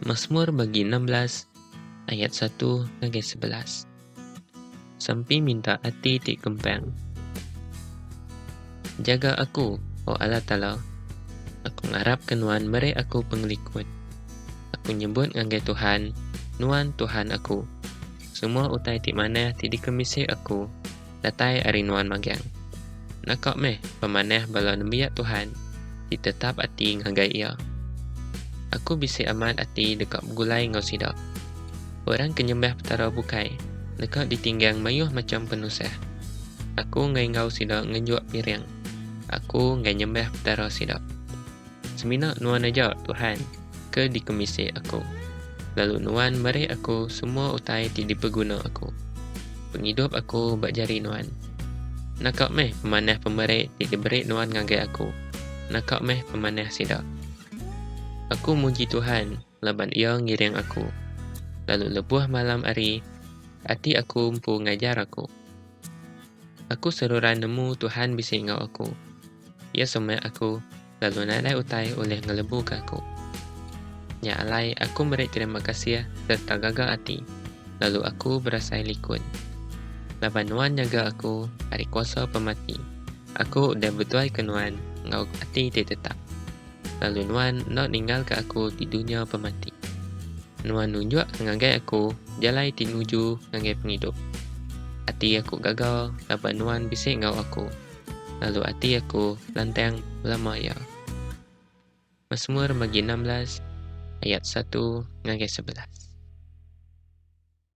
Masmur bagi enam belas ayat satu ngagai sebelas. Sampi minta ati ti kempang. Jaga aku, O Allah Taala. Aku ngarapka Nuan meri aku pengelikun. Aku nyebut ngagai Tuhan, Nuan Tuhan aku. Semua utai ti manah ti dikemisi aku. datai ari nuan magang. Naka meh pemanah bala nembiak Tuhan ti tetap ati ngagai Iya. Aku bisi amat ati deka begulai enggau sida. Orang ke nyembah Petara bukai deka ditinggang mayuh macham penusah. Aku enggai enggau sida ngenjuk piring. Aku enggai nyembah Petara sida. Semina Nuan aja, Tuhan, ke dikemisi aku, lalu Nuan meri aku semua utai ti dipeguna aku. Pengidup aku ba jari Nuan. Naka meh pemanah pemeri ti diberi Nuan ngagai aku, naka meh pemanah sida. Aku muji Tuhan laban Iya ngiring aku, lalu lebuh malam hari ati aku empu ngajar aku. Aku seruran nemu Tuhan bisi enggau aku. Iya sumak aku lalu nadai utai ulih ngelebuka aku. Nya alai aku meri terima kasih sereta gaga ati, lalu aku berasai likun. Laban Nuan nyaga aku ari kuasa pemati, aku udah betuaika Nuan enggau ati ti tetap, lalu Nuan enda ninggalka aku di dunya pemati. Nuan nunjukka ngagai aku jalai ti nuju ngagai pengidup. Ati aku gaga laban Nuan bisi enggau aku. lalu ati aku lantang belama iya. Masmur magi enam belas ayat satu ngagai sebelas.